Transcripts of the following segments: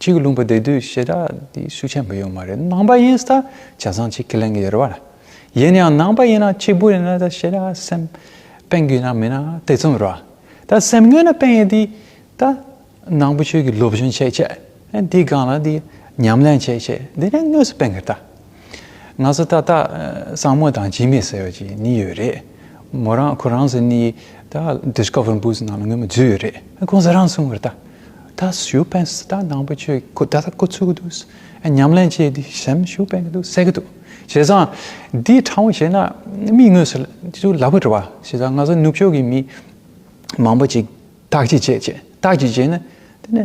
ཁྱེད་ཀྱི་ལུང་པ་འདི་དུས་ཤེས་རབ་འདི་ཤུགས་ཆེན་པོ་ཡོད་མ་རེད་ནང་པ་ཡིན་ས་བྱས་ཙང་ཁྱེད་ཁས་ལེན་གྱི་ཡོད་རེད་བ། ཡིན་ཡང་ནང་པ་ཡིན་ན་གཅིག་པུ་ཡིན་ན་ད་ཤེས་རབ་སེམས་དཔེ་འགུལ་ན་མིན་ན་དེ་ཙམ་རེད་བ། ད་སེམས་ངན་ན་དཔེ་ཡིན་དུས་ད་ནང་པ་ཆོས་ཀྱི་སློབ་སྦྱོང་བྱས་བྱས་འདི་སྒང་ལ་འདི་ཉམས་ལེན་བྱས་བྱས་འདི་ནས་དངོས་སུ་དཔེ་འགུལ་ད། ང་ཚོ་ཏག་ཏག་སྲང་མོ་དང་འཇིགས་མེད་ཟེར་བ་ཅིག་ནི་ཡོད་རེད། མོ་རང་ཁོ་རང་ཚོ་ནི་ད Discover Books ནང་ལ་སྔོན་མ་འཛུལ་ཡོད་རེད། ཁོང་ཚོ་རང་གསུང་བར་ད་ད་ཞུ་བན་སི་ཏཱ་ནང་པ་ཆོས་ཀྱི་ད་ད་བསྐོ་ཚུགས་ཀྱི་འདུག་ཉམས་ལེན་བྱས་དུས་གཞན་ཞུ་བན་གྱི་འདུག་ཟེར་གྱི་འདུག་བྱས་ཙང་འདི་དྲང་བོ་བྱས་ན་མིག་ངོས་སུ་ཅུང་ལ་བུ་འགྲོ་བ་བྱས་ཙང་ང་ཚོ་ནུབ་ཕྱོགས་ཀྱི་མི་མང་པོ་ཅིག་དག་ཅིག་བྱས་བྱས་དག་ཅིག་བྱས་ན་དེ་ནི།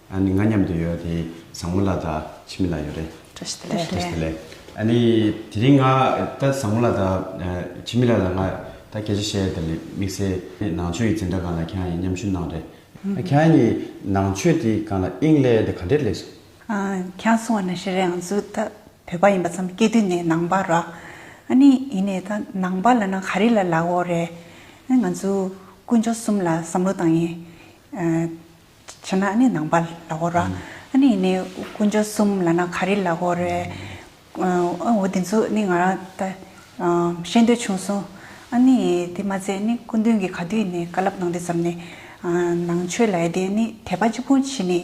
ཨ་ནི་ང་མཉམ་དུ་ཡོད་དེ་བཟང་མོ་ལ་དང་ཕྱི་མི་ལ་ཡོད་རེད། ཁྲོས་ཏེ་ལེ། ཁྲོས་ཏེ་ལེ། ཨ་ནི་དེ་རིང་ང་ད་བཟང་མོ་ལ་དང་ཕྱི་མི་ལ་ལ་ང་ད་སྐད་ཆ་བཤད་དེ་ལེ་དམིགས་བསལ་ནང་ཆོས་ཀྱི་འཛིན་གྲྭ་གང་ལ་ཁྱེད་རང་ཡིན་མཉམ་ཞུ་གནང་རེད། ཁྱེད་རང་ཡིན་ནང་ཆོས་དེ་གང་ལ་དབྱིངས་ལས་དེ་ག་འདྲས་ལེགས་སོ། ཁྱེད་རང་སོང་བ་ནས་ཤི་རེ་ཨང་བཟོ་ད་བོད་པ་ཡིན་པ་ཙམ་སྐད་དོད་ནས་ནང་པ་ར། ཨ་ནི་ཡིན་ནས་ད་ནང་པ་ལ་ན་ག་རེ་ལ་ལ་འོ་རེད། ང་ཚོ་དཀོན་མཆོག་གསུམ་ལ་བསམ་བློ་བཏང་ཡིན། བྱས་ན་ནི་ནང་པ་ལ་གོ་ར། ནི་ནི་དཀོན་མཆོག་གསུམ་ལ་ན་ག་རི་ལ་གོ་རེ། འོ་དེ་ཚོ་ནི་ང་རང་ད་བཤད་འདོད་བྱུང་སོང། ནི་དེ་མ་ཚད་ནི་སྐུ་མདུན་གྱི་ག་དུས་ནས་བཀའ་སླབ་གནང་དུས་ཙམ་ནས། ནང་ཆོས་ལ་ཡ་དེ་ནི་དད་པ་གཅིག་པུ་བྱེད་ནི་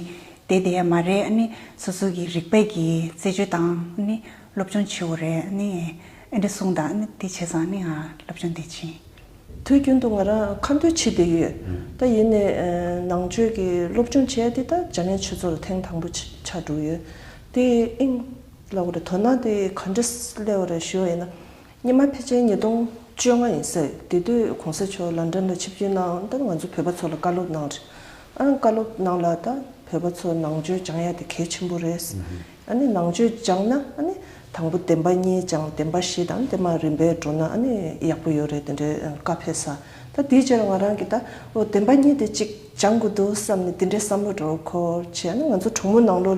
དེ་དེ་ཡ་མ་རེད་ནི་སོ་སོ་གི་རིག་པས་ཀྱི་རྩད་གཅོད་དང་ནི་སློབ་སྦྱོང་བྱེད་འོ་རེ་ནི་ཨེ་འདྲ་གསུང་དང་ནི་དེ་བྱས་ཙང་ནི་ང་སློབ་སྦྱོང་དེ་བྱིན། དུས་རྒྱུན་དུ་ང་རང་ཁ་འདོན་བྱེད་བསྡད་ཡོད། ད་ཡིན་ནས་ནང་ཆོས་ཀྱི་སློབ་སྦྱོང་བྱས་ཏེ་ད་འཇར་མན་ཆོས་ཚོགས་ལ་ཐེངས་དང་པོ་ཕྱག་བསྒྲུགས་ཡོད། དེ་ཨིན་ལ་བོད་དོ་ན་དེ་ག་འདྲ་སླེ་བ་རེད་ཞུ་བ་ཡིན་ན། ཉི་མ་ཕལ་ཆེར་ཉིས་སྟོང་བཅོ་ལྔ་ཡིན་ས་རེད་དེ་དུས་གོང་ས་མཆོག་ལ་འགྲམ་ལ་ཆིབས་བསྒྱུར་གནང་སྟབས་ང་ཚོ་བོད་པ་ཚོ་ལ་བཀའ་སློབ་གནང་རེད། ཨང་བཀའ་སློབ་གནང་ལ་ད་བོད་པ་ཚོ་ནང་ཆོས་སྦྱང་ཡ་དེ་གལ་ཆེན་པོ་རེད། ནི་ནང་བཅུད་སྦྱངས་ན་ནི་དང་པོ་བདེན་པ་གཉིས་སྦྱངས་བདེན་པ་བཞི་དང་དེ་མ་རིམ་པས་འགྲོ་ན་ནི་ཡག་པོ་ཡོད་རེད་དེ་འདྲའི་བཀའ་ཕེབས་ས་ད་དེའི་ཕྱིར་ང་རང་གིས་ད་བདེན་པ་གཉིས་དེ་གཅིག་སྦྱངས་དགོས་འདུག་བསམ་ནས་དེ་འདྲའི་བསམ་བློ་འགྲོ་གོ་ཆེ་ང་ཚོ་གྲོང་མོ་ནང་ལོགས་ལས།